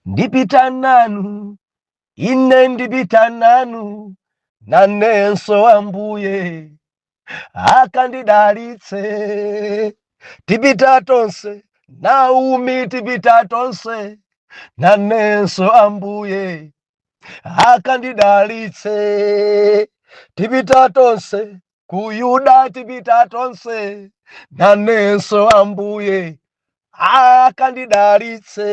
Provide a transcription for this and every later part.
ndipita nanu ine ndipita nanu nanenso ambuye akandidalitse tipita tonse naomi tipita tonse nanenso ambuye akandidalitse tipita tonse ku yuda tipita tonse nanenso ambuye akandidalitse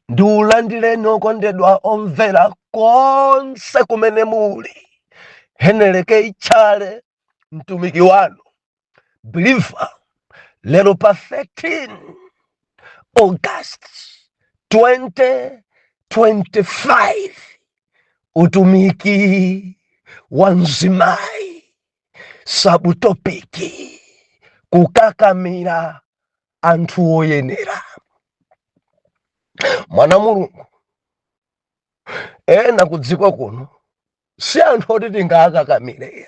ndikulandireni okondedwa omvera konse kumene muli heneleke ichale mtumiki wanu believer lero pa 13 august 2025 utumiki wa mzimayi sabutopiki kukakamira anthu oyenera mwana wa mulungu ena kudziko kuno si anthu oti tingakakamire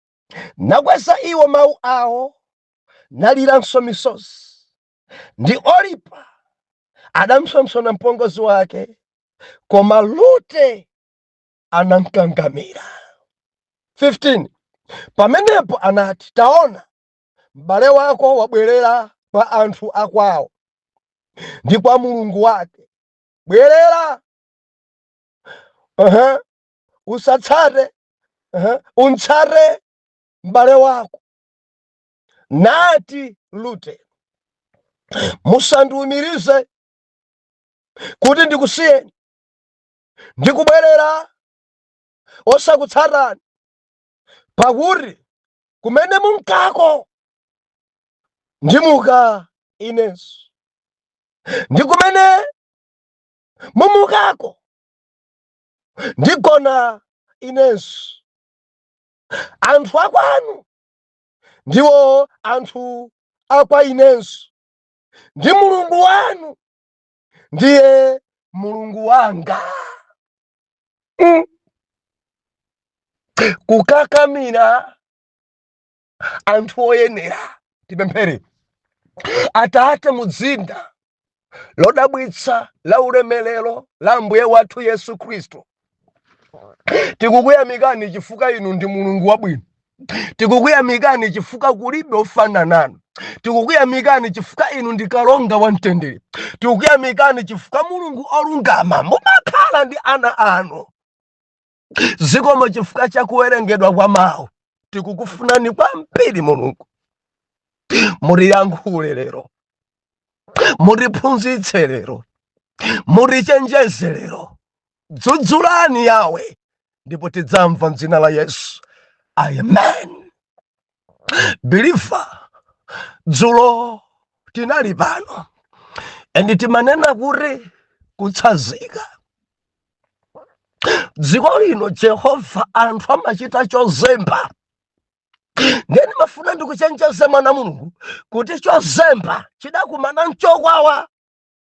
nakweza iwo mawu awo naliranso misozi ndi olipa adampsompsona mpongozi wake koma rute anamkangamira 15 pamenepo anati taona m'bale wako wabwerera kwa anthu akwawo ndi kwa mulungu wake bwerera uh -huh. usatsate uh-huh, umtsate m'bale wako nati rute musandiumirize kuti ndikusiyeni ndikubwerera osakutsatani pakuti kumene munkako ndimuka inenso ndi kumene mumukako ndigona inenso anthu akwanu ndiwo anthu akwa inenso ndi mulungu wanu ndiye mulungu wanga mm. kukakamira anthu oyenera tipemphere atate mudzina lodabwitsa la ulemerero la ambuye wathu yesu khristu tikukuyamikani chifukwa inu ndi mulungu wabwino tikukuyamikani chifukwa kulibe ofanana nanu tikukuyamikani chifukwa inu ndi kalonga wa mtendere tikukuyamikani chifukwa mulungu olungama mumakhala ndi ana anu zikomo chifukwa cha kuwerengedwa kwa mawu tikukufunani kwambiri mulungu mutiyankhule lero mutiphunzitse lero mutichenjeze lero dzudzulani yawe ndipo tidzamva mdzina la yesu amen believer dzulo tinali pano and timanena kuti kutsazika dziko lino jehova anthu amachita chozemba ndiye ndimafuna ndikuchenjeze mwana mulungu kuti chozemba chidakumana nchokwawa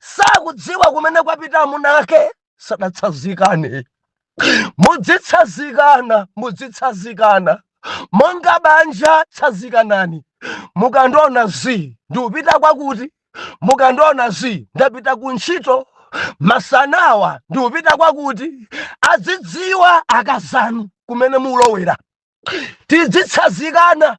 sakudziwa kumene kwapita amuna ake sadatsazikane mudzitsazikana mudzitsazikana monga banja tsazikanani mukandiona zii ndikupita kwakuti mukandiona zii ndapita ku ntchito masanawa ndikupita kwakuti azidziwa akazanu kumene mukulowera tidzitsazikana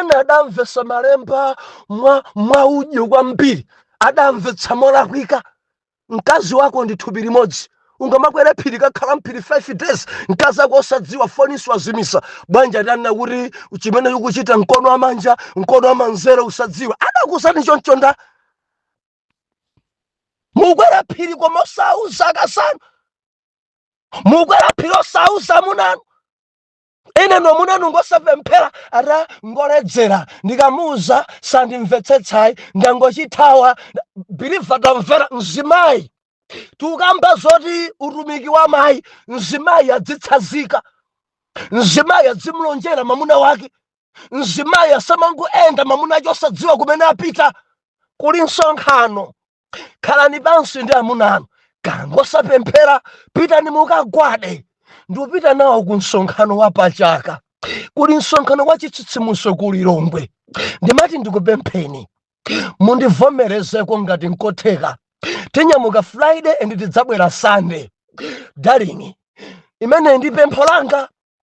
ena adamvetsa malemba mwa mwaudyo kwambiri adamvetsa molakwika mkazi wako ndi thupi limodzi ungamakwera phiri nkukakhala mphiri 5 days mkazi wako osadziwa foninso azimitsa bwanji atanena kuti chimene ukuchita mkono wa manja mkono wa manzere usadziwe adakuuzani choncho ndani mukwera phiri koma osauza akazanu mukwera phiri osauza amunanu inunso amunanu ngosapemphera ati ngoledzera ndikamuuza sandimvetsetsa ayi ndangochithawa believer tamvera mzimayi tikukamba zoti utumiki wa mayi mzimayi adzitsazika mzimayi adzimulonjera mamuna wake mzimayi asamangoenda mamuna wake osadziwa kumene apita kuli msonkhano khalani pansi ndi amunanu kaya ngosapemphera pitani mukagwade ndikupita nawo ku msonkhano wa pachaka kuli msonkhano wa chitsitsimutso ku lilongwe ndimati ndikupempheni mundivomerezeko ngati nkotheka tinyamuka friday and tidzabwera sunday darling limeneli ndi pempho langa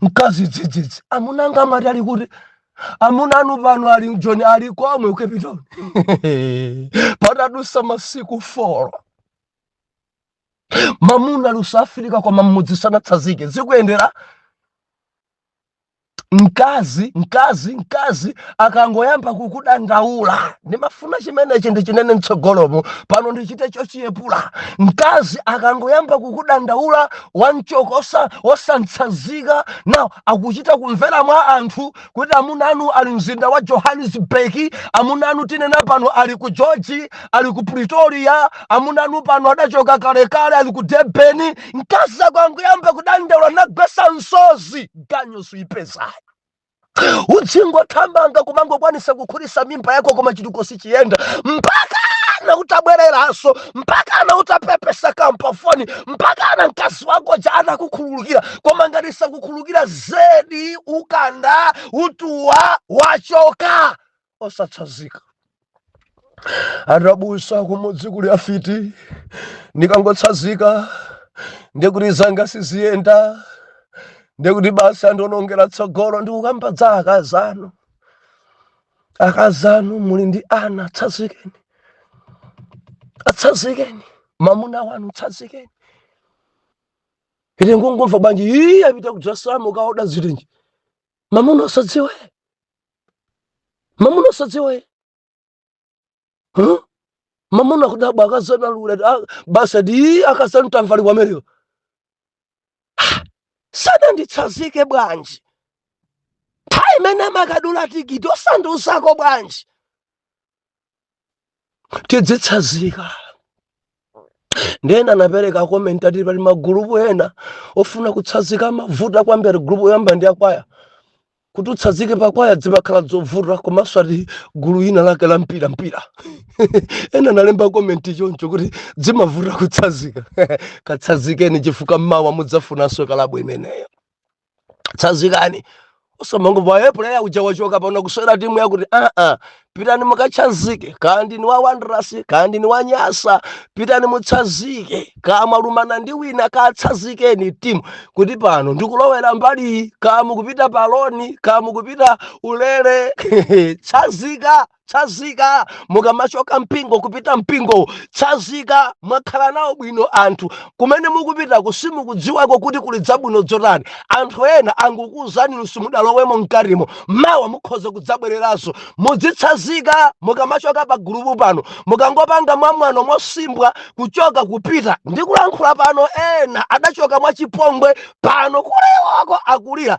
mkazi dzidzidzi amuna anga amati ali kuti amuna anu pano ali ku joni ali komwe ku cape town patadusa masiku folo mamuna akusafirika koma mmudzi sanatsazike zikuyendera mkazi mkazi mkazi akangoyamba kukudandaula ndimafuna chimenechi ndichinene mtsogolomo pano ndichite chochiyepula mkazi akangoyamba kukudandaula wamchoka osa- osamtsanzika nawo akuchita kumvera mwa anthu kuti amuna anu ali mzinda wa johannesburg amuna anu tinena pano ali ku george ali ku pretoria amuna anu pano adachoka kalekale ali ku debeni mkazi akangoyamba kudandaula nagwetsa msozi ganyu suipezayo udzingothamanga kumangokwanitsa kukhutitsa mimba yako koma chitukuko sichiyenda mpakana utabwereranso mpakana utapepesa kampafoni mpakana mkazi wako uja atakukhululukira koma ngati sakukhululukira zedi ukanda utuwa wachoka osatsazika abusa kumudzi kuli afiti ndikangotsazika ndekuti zanga siziyenda ndekuti basi andionongera tsogolo ndikukamba dza akazi anu akazi anu muli ndi ana atsazikeni atsazikeni mamuna wanu tsazikeni ine ndingomva bwanji iyi apita kudzasamo kaoda zirinji mamuna osadziwa e mamuna osadziwa e huh? mamuna kudabwa akazanu lula ah, basi ati akazanu tamva ali kwamereyo Ah, sadanditsazike bwanji nthawi imene amakadula tikiti osandiuzako bwanji tidzitsazika nde ena anapereka komenti ati pali magulupu ena ofuna kutsazika amavuta kwambiri gulupu yoyamba ndi yakwaya kuti utsazike pakwaya dzimakhala dzovuta komanso ati gulu ina lake la mpira mpira ena analemba komenti choncho kuti dzimavuta kutsazika katsazikeni chifukwa mmawa mudzafunanso kalabu imeneyo tsazikani osamangomva e puleya uja wachoka pano akusewera timu yakuti aa pitani mukatsazike kaya ndinu wa wanderers kaya ndinu wa nyasa pitani mutsazike kaya mwalumana ndi wina katsazikeni timu kuti pano ndikulowera mbali iyi kaya mukupita paloni kaya mukupita ulere tsazika tsazika mukamachoka mpingo kupita mpingo tsazika mwakhala nawo bwino anthu kumene mukupitako simukudziwako kuti kuli dzabwino dzotani anthu ena angokuuzani inu simudalowemo mkatimo mawa mukhoza kudzabwereranso mudzitsazika mukamachoka pa gulupu pano mukangopanga mwamwano mosimbwa kuchoka kupita ndikulankhula pano ena adachoka mwachipongwe pano kulewako akulira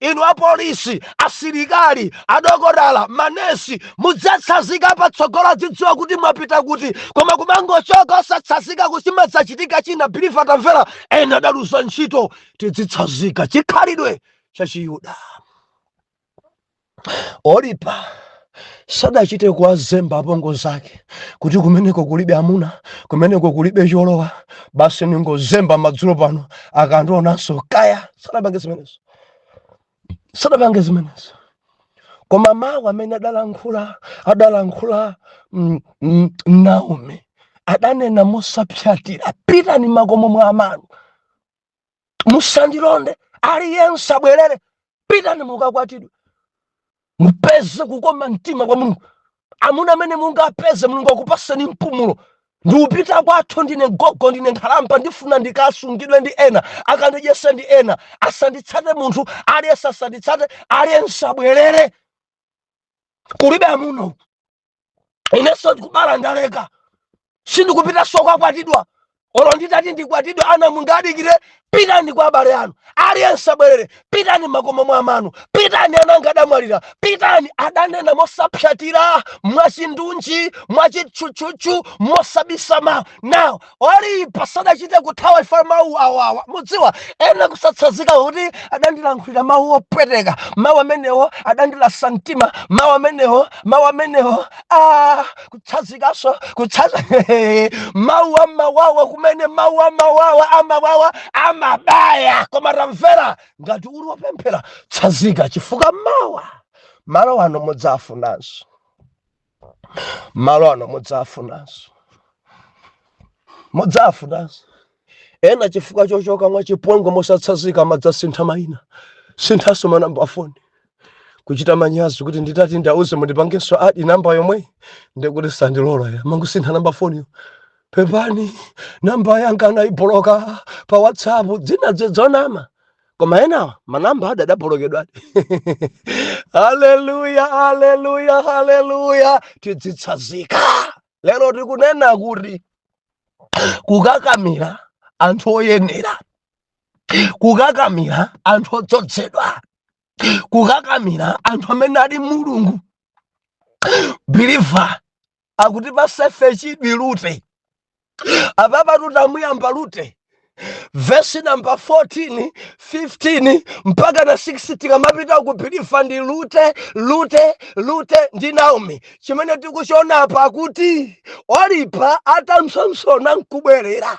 inu apolisi asilikali adokotala manesi mudzatsazika patsogolo adzidziwa kuti mwapita kuti koma kumangochoka osatsazika kuchimadzachitika china bilifu tamvera ena adaluza ntchito tidzitsazika chikhalidwe chachiyuda olipa sadachite kuwazemba apongozi ake kuti kumeneko kulibe amuna kumeneko kulibe cholowa basi ningozemba madzulo pano akandionanso kaya sadapange zimenezo sadapange zimenezo koma mawu amene adalankhula adalankhula mm, mm, naomi adanena mosapsatira pitani makomo mwa amanu musandilonde aliyense abwerere pitani mukakwatidwe mupeze kukoma mtima kwa mulungu amuna amene mungapeze mulungu akupaseni mpumulo ndiupita kwathu ndine gogo ndine nkhalamba ndifuna ndikasungidwe ndi ena akandidyese ndi ena asanditsate munthu aliyense asanditsate aliyense abwerere kulibe amuna uku inenso kubala ndaleka sindikupitanso kukakwatidwa olo nditati ndikwatidwe ana mungadikire pitani kwa abale anu aliyense abwerere pitani makomo mwa amanu pitani ana anga adamwalira pitani adanena mosapsatira mwachindunji mwachitchutchutchu mosabisa mawu now olipa sadachite kuthawa chifukwa mawu awawa mudziwa ena kusatsazika kuti adandilankhulira mawu opweteka mawu amenewo adandilasa mtima mawu amenewo mawu amenewo a kutsazikanso kutsaza mawu amawawa kumene mawu amawawa amawawa amabaya koma tamvera ngati uli wopemphera tsazika chifukwa mawa malo ano mudzawafunanso malo ano mudzawafunanso mudzawafunanso ena chifukwa chochoka mwachipongwe mosatsazika amadzasintha mayina sinthanso manamba afoni kuchita manyazi kuti nditati ndiwauze mundipangenso adi namba yomweyi ndikuti sandilola iya amangosintha namba foniyo pepani namba yanga anaiboloka pa whatsapp dzina ndi lonama koma enawa manamba adabolokedwa haleluya haleluya haleluya tidzitsazika lero tikunena kuti kukakamira anthu oyenera kukakamira anthu odzozedwa kukakamira anthu amene ali ndi mulungu biliva akutipatsa ife chidwi lute apapa tutamuyamba lute vesi namba 14 15 mpakana 16 tikamapita kupilifa ndi lute lute lute ndi naomi chimene tikuchiona apa kuti olipa atampsompsona nkubwerera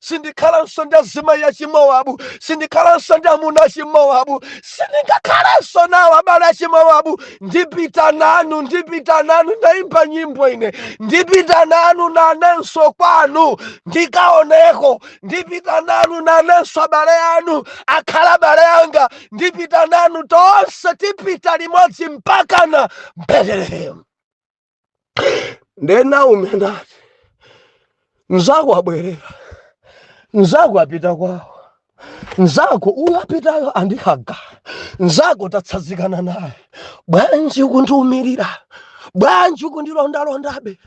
sindikhalanso ndi azimayi achimowabu sindikhalanso ndi amuna achimowabu sindingakhalanso nawo abale achimowabu ndipita nanu ndipita nanu ndaimba nyimbo ine ndipita nanu nanenso kwanu ndikaoneko ndipita nanu nanenso abale anu akhala abale anga ndipita nanu tonse tipita limodzi mpakana betelehemu nde naomi anati mzako abwerera mzako apita kwawo mzako uyo apitayo andikhaga mzako tatsazikana naye bwanji ukundiumirira bwanji ukundilondalondabe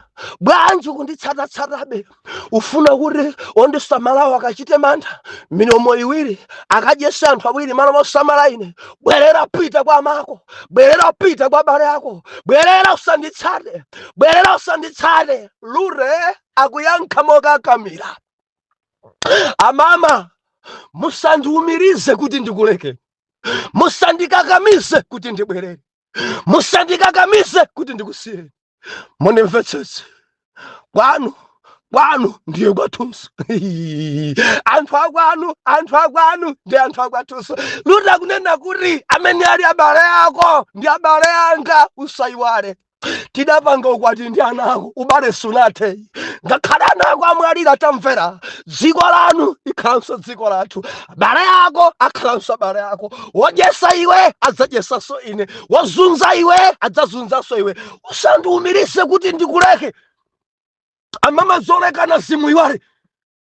bwanji ukunditsatatsatabe Ufuna kuti ondisamalawo akachite mantha? Milomo iwiri akadyese anthu awiri malo mosamala ine? Bwerera, pita kwa amako. Bwerera, pita kwa abale ako. Bwerera, usanditsate. Bwerera, usanditsate. Lute akuyankha mokakamira, Amama, musandiumirize kuti ndikuleke, musandikakamize kuti ndibwerere. musandikakamize kuti ndikusiyeni mundimvetsetse kwanu kwanu ndiye kwathunso anthu akwanu anthu akwanu ndi anthu akwathunso lute akunena kuti amene ali abale ako ndi abale anga usayiwale tidapanga ukwati ndi ana ako ubale sunathe ngakhale ana ako amwalira tamvera dziko lanu likhalanso dziko lathu abale ako akhalanso abale ako wodyesa iwe adzadyesanso ine wozunza iwe adzazunzanso iwe usandiumirise kuti ndikuleke amama zolekanazi muyiwale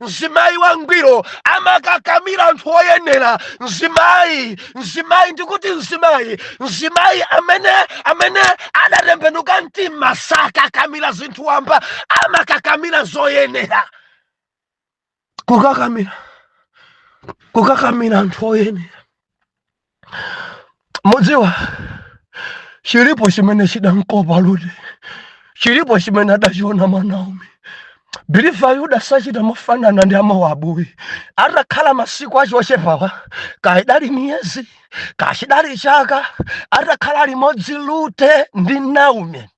mzimayi wangwiro amakakamira anthu oyenera mzimayi mzimayi ndikuti mzimayi mzimayi amene amene adatembenuka mtima sakakamira zinthu wamba amakakamira zoyenera kukakamira kukakamira anthu oyenera mudziwa chilipo chimene chidamkopa lute chilipo chimene adachiona mwa naomi believe ayuda sachita mofanana ndi amowabu ayi atakhala masiku acho ochepawa kaya idali miyezi kaya chidali chaka atakhala limodzi lute ndi naomi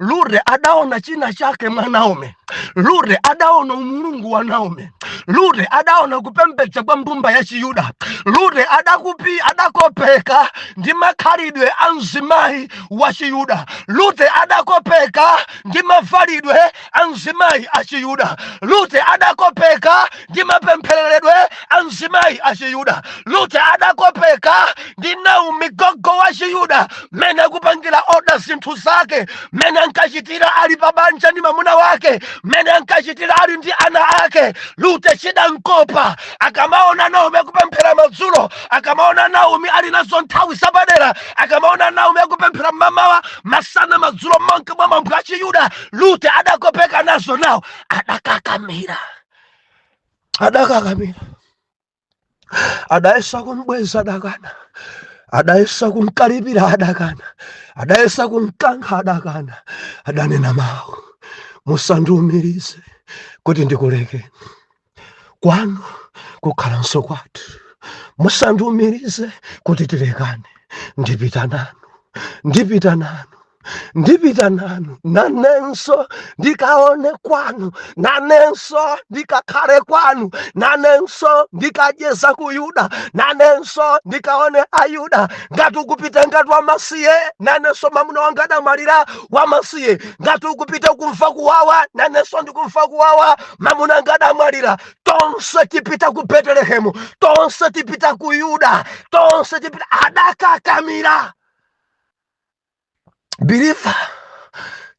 Lute adaona china chake mwa Naomi. Lute adaona umulungu wa Naomi. Lute adaona kupembedza kwa mbumba ya Chiyuda. Lute adakupi adakopeka ndi makhalidwe a mzimayi wa Chiyuda. Lute adakopeka ndi mavalidwe a mzimayi achiyuda rute adakopeka ndi mapemphereredwe a mzimayi achiyuda rute adakopeka ndi naomi gogo wachiyuda mmene akupangira oda zinthu zake mmene ankachitira ali pa banja ndi mamuna wake mmene ankachitira ali ndi ana ake rute chidamkopa akamaona naomi akupemphera madzulo akamaona naomi ali nazo nthawi zapadera akamaona naomi akupemphera mmamawa masana madzulo monga mwa mwambo wachiyuda lute adakopeka nazo nawo adakakamira adakakamira adayesa kumbweza adakana adayesa kumkalipira adakana adayesa kumkankha adakana adanena mawu musandiumirize kuti ndikulekeni kwanu kukhalanso kwathu musandiumirize kuti tilekane ndipita nanu ndipita nanu ndipita nanu nanenso ndikaone kwanu nanenso ndikakhale kwanu nanenso ndikacheza ku yuda nanenso ndikaone ayuda ngati ukupita ngati wamasiye nanenso mamuna wanga adamwalira wamasiye ngati ukupita kumva kuwawa nanenso ndikumva kuwawa mamuna wanga adamwalira tonse tipita ku betelehemu tonse tipita ku yuda tonse tipita adakakamira biliva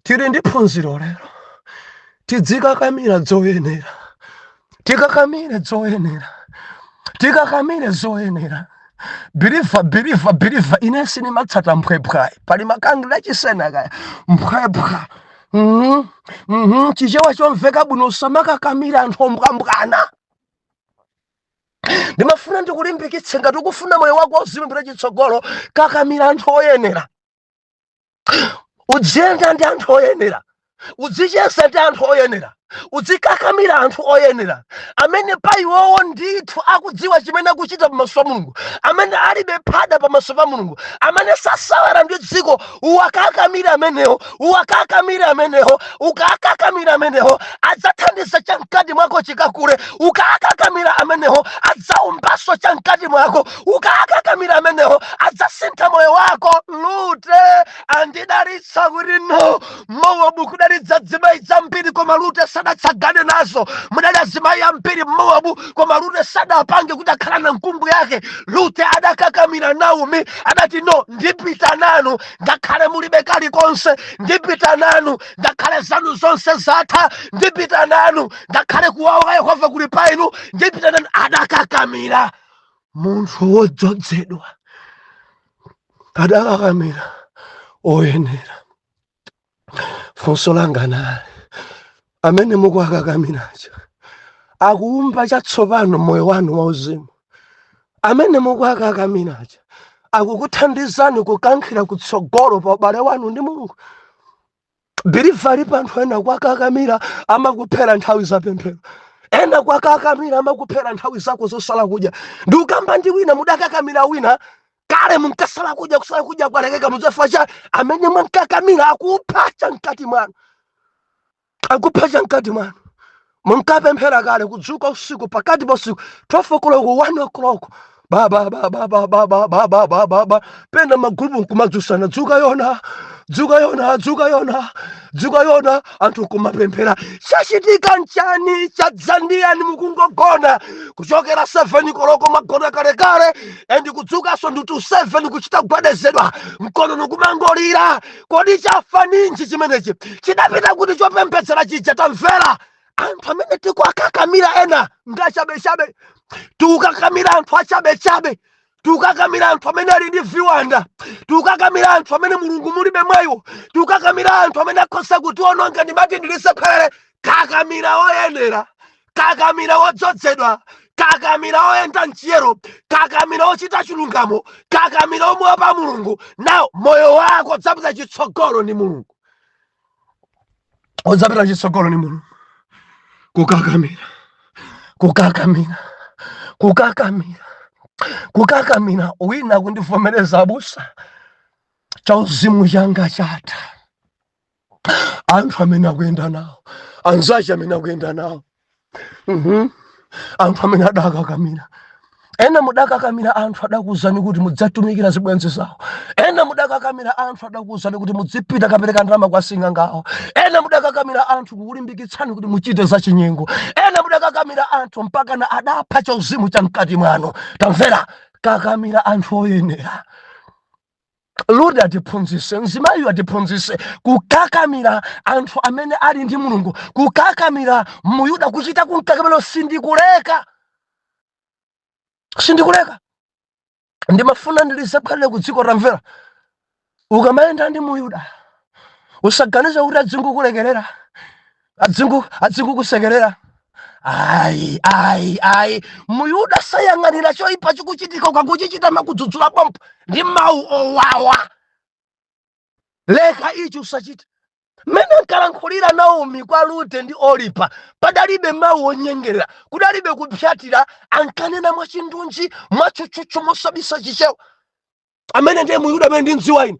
tiri ndi phunziro lero tidzikakamira dzoyenera tikakamire zoyenera tikakamire zoyenera biliva biliva biliva ine sindimatsata mphwephwa ayi pali makangila chisena kaya mphwephwa Mhm, mhm, chichewa chomveka bwino usamakakamira anthu ombwambwana ndimafuna ndikulimbikitse ngati ukufuna moyo wako uzilumbira chitsogolo kakamira anthu oyenera udziyenda ndi anthu oyenera udzicheza ndi anthu oyenera udzikakamira anthu oyenera amene pa iwowo ndithu akudziwa chimene akuchita pamaso pa mulungu amene alibe phada pamaso pa mulungu amene sasewera ndi dziko uwakakamire amenewo uwakakamire amenewo ukakakamira amenewo adzathandiza chamkati mwako chikakule ukakakamira amenewo adzaumbaso chamkati mwako ukakakamira amenewo adzasintha moyo wako lute adanenetsa kuti no mowabu kudali zizimayi zambiri koma rute sadatsagane nazo mudali azimayi ambiri mmowabu koma rute sadapange kuti akhala na nkumbu yake rute adakakamira naomi adati no ndipita nanu ngakhale mulibe kalikonse ndipita nanu ngakhale zanu zonse zatha ndipita nanu ngakhale kuwawa kwa yehova kuli pa inu ndipita nanu adakakamira munthu wodzodzedwa adakakamira oyenera funso langa nali amene mukuwakakamirawa akuumba chatsopano moyo wanu wauzimu amene mukuwakakamirawa akukuthandizani kukankhira kutsogolo pa ubale wanu ndi mulungu believer alipo anthu ena kuwakakamira amakuphera nthawi za pemphero ena kuwakakamira amakuphera nthawi zako zosala kudya ndikukamba ndi wina mudakakamira wina kale munkasala kudya kusala kudya kwalekeka mudzafa chifukwa cha amene mwankakamira akupha cha mkati mwanu akupha cha mkati mwanu munkapemphera kale kudzuka usiku pakati pa usiku 12 o'clock 1 o'clock baba baba baba baba baba baba baba pena magulupu nkumadzusana dzuka yona dzuka yona dzuka yona dzuka yona anthu kumapemphera chachitika nchani chadzandiyani mukungogona kuchokera 7 koloko mwagona kalekale and kudzukanso nditu 7 kuchita kugwedezedwa mkonono kumangolira Kodi chafa ninji chimenechi? Chidapita kuti chopemphetsera chija tamvera? Anthu amene tikuwakakamira ena ndi achabechabe, tikukakamira anthu achabechabe tikukakamira anthu amene ali ndi viwanda tikukakamira anthu amene mulungu mulibe mwa iwo tikukakamira anthu amene akhoza kutiwononga ndimati ndilisephelele kakamira oyenera kakamira wodzozedwa kakamira woyenda mchiyero kakamira wochita chilungamo kakamira womuopa mulungu nawo moyo wako udzapita chitsogolo ndi mulungu udzapita chitsogolo ndi mulungu kukakamira kukakamira kukakamira kukakamira wina akundivomereza abusa chauzimu changa chatha anthu amene akuyenda nawo anzache amene akuyenda nawo Mhm. anthu amene adakakamira ena mudakakamira anthu adakuuzani kuti mudzitumikira zibwenzi zawo ena mudakakamira anthu adakuuzani kuti mudzipita kapereka ndalama kwa asing'anga awo ena mudakakamira anthu kukulimbikitsani kuti muchite zachinyengo ena mudakakamira anthu mpakana adapha chauzimu cha mkati mwanu tamvera kakamira anthu oyenera rute atiphunzise mzimayiyo atiphunzise kukakamira anthu amene ali ndi mulungu kukakamira muyuda kuchita kumkakamira sindikuleka sindikuleka ndimafuna ndilizabwerere ku dziko tamvera ukamayenda ndi muyuda usaganiza kuti adzingokulekerera adzi adzingokusekerera ayi ayi ayi muyuda sayang'anira choipa chikuchitika ukangochichita amakudzudzula pompo ndi mawu owawa leka ichi usachite mmene ankalankhulira naomi kwa rute ndi olipa padalibe mawu onyengerera kudalibe kupsatira ankanena mwachindunji mwatchutchutchu mosabisa chichewa amene ndiye muyuda amene ndimdziwa ine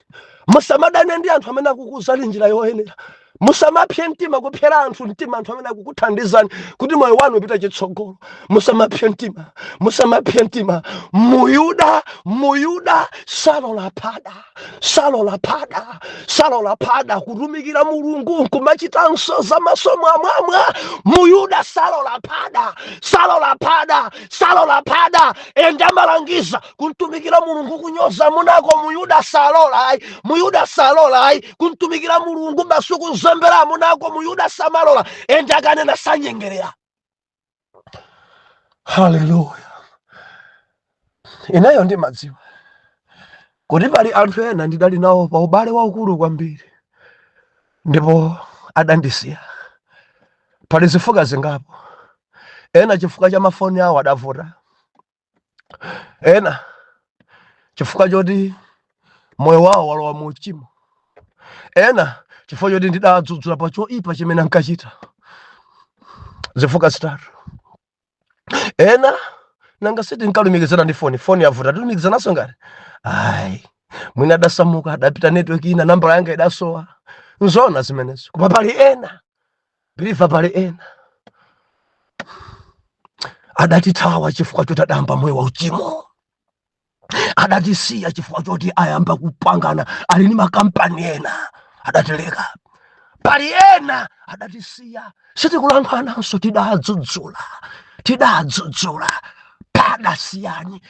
musamadane ndi anthu amene akukuuzani njira yoyenera musamapse mtima kupsera anthu mtima anthu amene akukuthandizani kuti moyo wanu upite chitsogolo musamapse mtima musamapse mtima muyuda muyuda salola phada salola phada salola phada kutumikira mulungu nkumachitanso za maso mwamwamwa muyuda salola phada salola phada salola phada ende amalangiza kumtumikira mulungu kunyoza amunako muyuda salola ayi muyuda salola ayi kumtumikira mulungu basi kuzembera amunako muyuda samalola ende akanena sanyengerera haleluya ineyo ndimadziwa kuti pali anthu ena ndidali nawo pa ubale waukulu kwambiri ndipo adandisiya pali zifukwa zingapo ena chifukwa cha mafoni awo adavuta ena chifukwa choti moyo wawo walowa mu uchimo ena chifukwa choti ndidadzudzula pa choipa chimene ankachita zifukwa zitatu ena nanga si tinkalumikizana ndi foni foni yavuta tilumikizananso ngati ayi mwina adasamuka adapita network ina nambala yanga idasowa nzona zimenezo koma pali ena believer pali ena adatithawa chifukwa choti adayamba moyo wa uchimo adatisiya chifukwa choti ayamba kupangana ali ni makampani ena adatileka pali ena adatisiya sitikulankhulananso tidadzudzula tidadzudzula padasiyani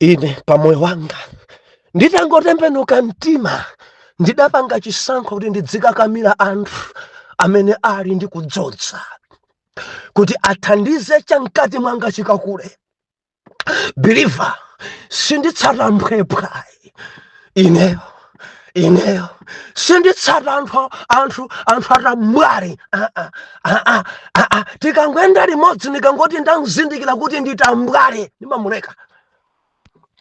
ine pamoyo wanga nditangotembenuka mtima ndidapanga chisankho kuti ndidzikakamira anthu amene ali ndi kudzodza kuti athandize chamkati mwanga chikakule believer sinditsata mphwepwa ayi ineyo ineyo sinditsata anthu anthu anthu atambwali ah, ah, ah, tikangoenda limodzi ndikangoti ndamzindikira kuti ndi tambwali ndimamuleka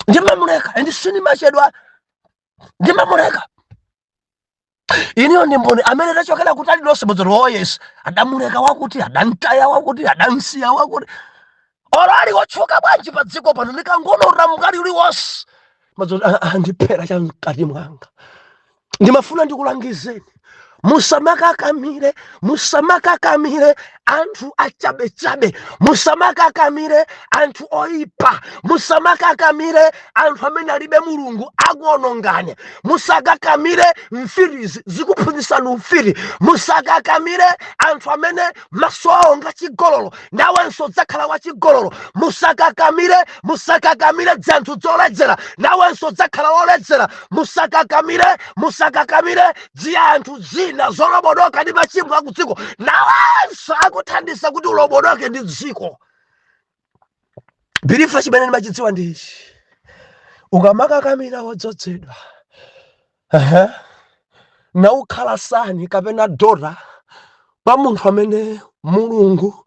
ndimamuleka and sindimachedwa ndimamuleka ineyo ndi mboni amene tachokera kutali lonse mudzero oh yes adamuleka wakuti adamtaya wakuti adamsiya wakuti olo ali otchuka bwanji pa dziko pano ndikangonotora mkati uliwonse mazoti ah andiphera cha mkati mwanga ndimafuna ndikulangizeni musamakakamire musamakakamire anthu achabechabe musamakakamire anthu oyipa musamakakamire anthu amene alibe mulungu akuonongani musakakamire mfitizi zikuphunzitsani ufiti musakakamire anthu amene maso awo nga chigololo nawenso udzakhala wachigololo musakakamire musakakamire dzianthu zoledzera nawenso udzakhala woledzera musakakamire musakakamire dziyanthu zina zolobodoka ndi machimo akudziko nawenso akuthandiza kuti ulobodoke ndi dziko believer chimene ndimachidziwa ndi ichi ukamakakamira wodzozedwa uh-huh. naukhala son kapena daughter kwa munthu amene mulungu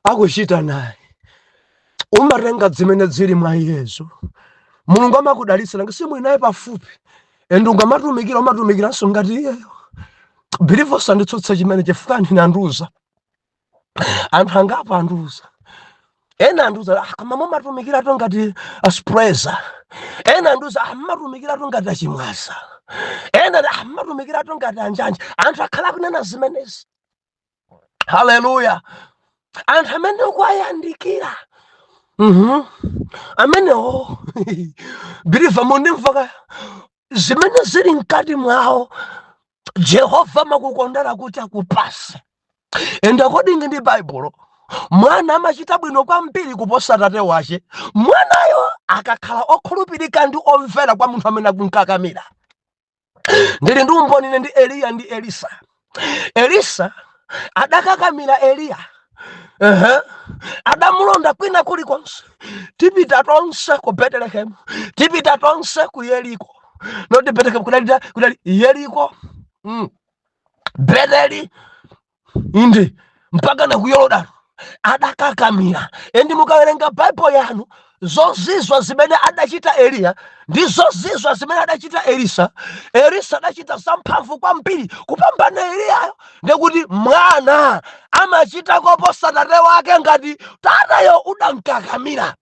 akuchita naye umatenga zimene zili mwa iyezo mulungu amakudalitsa nanga si uli naye pafupi and ukamatumikira umatumikiranso ngati iyeyo believer usanditsutse chimene chifukwa anandiuza anthu angapo andiuza ena andiuza "Ah, koma mumatumikiratu ngati aspresa ena andiuza "Ah, mumatumikiratu ngati a Chimwaza ena ati, "Ah, mumatumikiratu ngati anjanja anthu akhala akunena zimenezi haleluya anthu amene ukuwayandikira Mhm. amenewo believer undimva ka zimene zili mkati mwawo jehova amakukondera kuti akupase and according ndi baibulo mwana amachita bwino kwambiri kuposa atate wache mwanayo akakhala okhulupirika ndi omvera kwa munthu amene akumkakamira ndili ndi umboni ine ndi eliya ndi elisa elisa adakakamira eliya Ehe. adamulonda kwina kulikonse tipita tonse ku betelehemu tipita tonse ku yeriko not betelehemu kudali kudali yeriko mm. beteli inde mpaka na ku yorodano adakakamira and mukawerenga bible yanu zozizwa zimene adachita eliya ndi zozizwa zimene adachita elisa elisa adachita zamphamvu kwambiri kupambana eliyayo ndikuti mwana amachita koposa tate wake ngati tatayo udamkakamira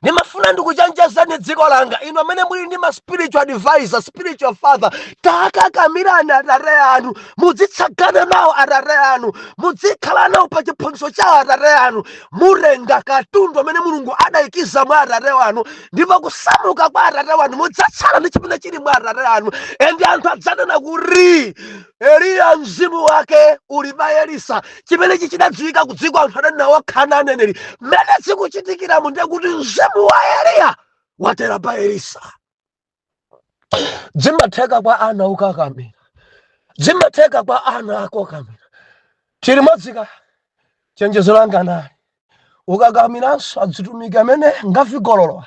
ndimafuna ndikuchenjezeni dziko langa inu amene muli ndi ma spiritual advisor spiritual father takakamirani atate anu mudzitsagana nawo atate anu mudzikhala nawo pa chiphunzitso cha atate anu mutenga katundu amene mulungu adayikiza mwa atate wanu ndipo kusamuka kwa atate wanu mudzatsala ndi chimene chili mwa atate anu and anthu adzanena kuti Eliya mzimu wake uli pa Elisa. Chimenechi chidadziwika ku dziko anthu adanena okha ana aneneri. Mmene zikuchitikiramu ndiye kuti mzimu wa Eliya watera pa Elisa. Zimatheka kwa ana okakamira, zimatheka kwa ana okakamira, Chilimodzi ka chenjezo langa nali ukakakamiranso azitumiki amene ngachigololowa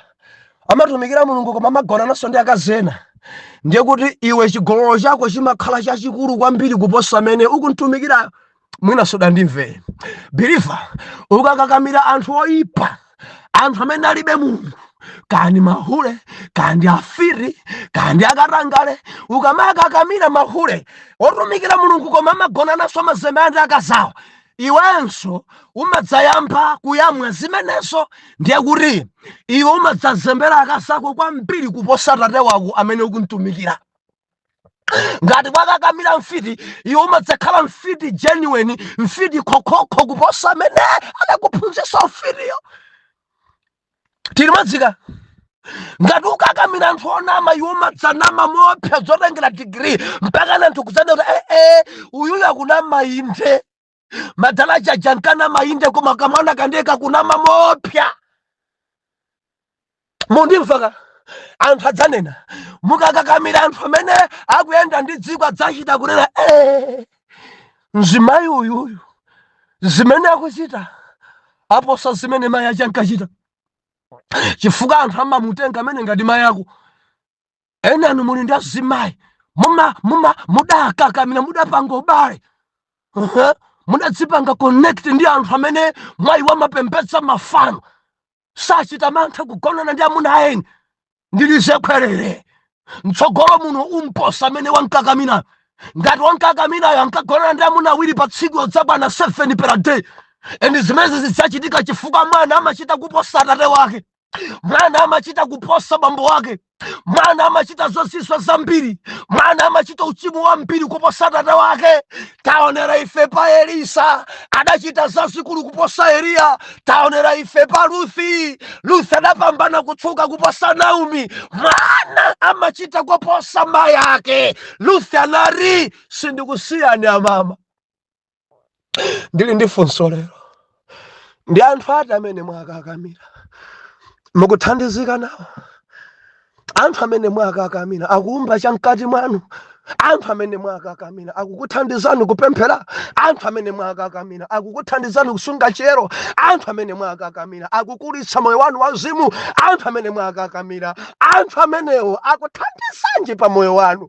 amatumikira Mulungu koma amagonananso ndi akazi ena ndiye kuti iwe chigololo chako chimakhala chachikulu kwambiri kuposa amene ukumtumikirayo mwina sunandimvere believer ukakakamira anthu oyipa anthu amene alibe mulungu kaya ndi mahule kaya ndi afiti kaya ndi akatangale ukamakakamira mahule otumikira mulungu koma amagonananso mozembera akazawo iwenso umadzayamba kuyamwa zimenezo ndiye kuti iwe umadzazembera akazako kwambiri kuposa tate wako amene ukumtumikira ngati wakakamira mfiti iwe umadzakhala mfiti genuine mfiti khokhokho kuposa amene anakuphunzitsa ufitiyo tili madzika ngati ukakamira anthu onama iwe umadzanama moopsa zotengera digiri mpakana anthu kudzanena kuti ee uyuyu akunama inde madala aja ankanama inde koma kamwana kake ndiye kakunama moopsa mukundimva ka anthu adzanena mukakakamira anthu amene akuyenda ndi dziko adzachita kunena eh, mzimayi uyuyu zimene akuchita aposa zimene mayi ache ankachita chifukwa anthu amamutenga amene ngati mayi ako enanu muli ndi azimayi muma muma mudakakamira mudapanga ubale Aha. mudadzipanga connect ndi anthu amene mwa iwo amapembedza mafano sachita mantha kugonana ndi amuna a eni ndilize khwerere mtsogolo muno umposa amene wamkakamira ngati wamkakamirayo ankagonana ndi amuna awiri pa tsiku udzakwana 7 per day and zimenezi zidzachitika chifukwa mwana amachita kuposa atate wake mwana amachita kuposa bambo wake mwana amachita zozizwa zambiri mwana amachita uchimo wambiri kuposa tate wake taonera ife pa elisa adachita zazikulu kuposa eliya taonera ife pa ruthi ruthi adapambana kutchuka kuposa naomi mwana amachita kuposa mayi ake ruthi anati sindikusiyani amama ndili ndi funso lero ndi anthu ati amene mwakakamira mukuthandizika nawo anthu amene mwakakamira akuumba chamkati mwanu anthu amene mwakakamira akukuthandizani kupemphera anthu amene mwakakamira akukuthandizani kusunga chiyero anthu amene mwakakamira akukulitsa moyo wanu wauzimu anthu amene mwakakamira anthu amenewo akuthandizanji pa moyo wanu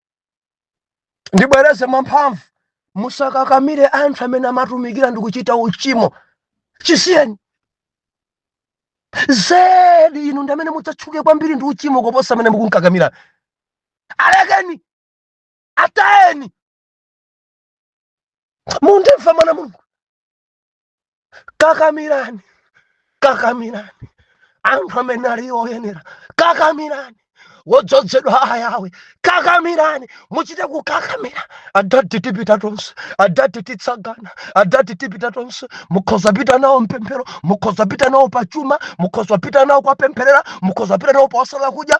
ndibwereze mwamphamvu musakakamire anthu amene amatumikira ndikuchita uchimo chisiyeni zedi inu ndi amene mudzatchuke kwambiri ndi uchimo koposa amene mukunkakamira alekeni atayeni mundimva mwana wa mulungu kakamirani kakamirani anthu amene ali oyenera kakamirani wodzozedwa ayawe kakamirani muchite kukakamira adati tipita tonse adati titsagana adati tipita tonse mukhoza pita nawo mpemphero mukhoza pita nawo pachuma mukhoza pita nawo kuwapempherera mukhoza pita nawo posala kudya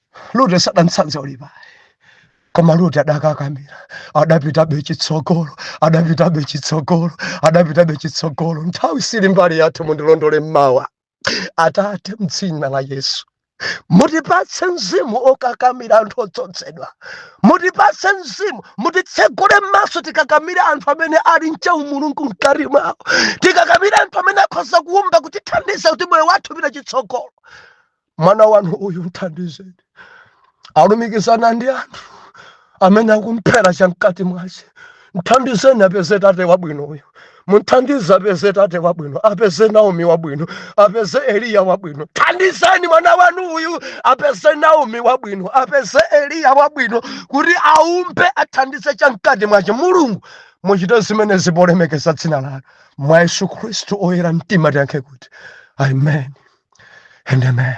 lute sadamtsanze olipa koma lute adakakamira adapitabe chitsogolo adapitabe chitsogolo adapitabe chitsogolo nthawi sili mbali yathu mundilondole mmawa atate mdzina la yesu mutipatse mzimu okakamira anthu odzozedwa mutipatse mzimu mutitsegule maso tikakamire anthu amene ali nchaumulungu mkati mwawo tikakamire anthu amene akhoza kuumba kutithandiza kuti moyo wathu upite chitsogolo mwana wanu uyu mthandizeni alumikizane ndi anthu amene akumphera chamkati mwache mthandizeni apeze tate wabwino uyu mthandize apeze tate wabwino apeze naomi wabwino apeze eliya wabwino thandizeni mwana wanu uyu apeze naomi wabwino apeze eliya wabwino kuti aumbe athandize chamkati mwache mulungu muchite zimene zikulemekeza dzina lanu mwa yesu khristu oyera mtima tiyankhe kuti amen and amen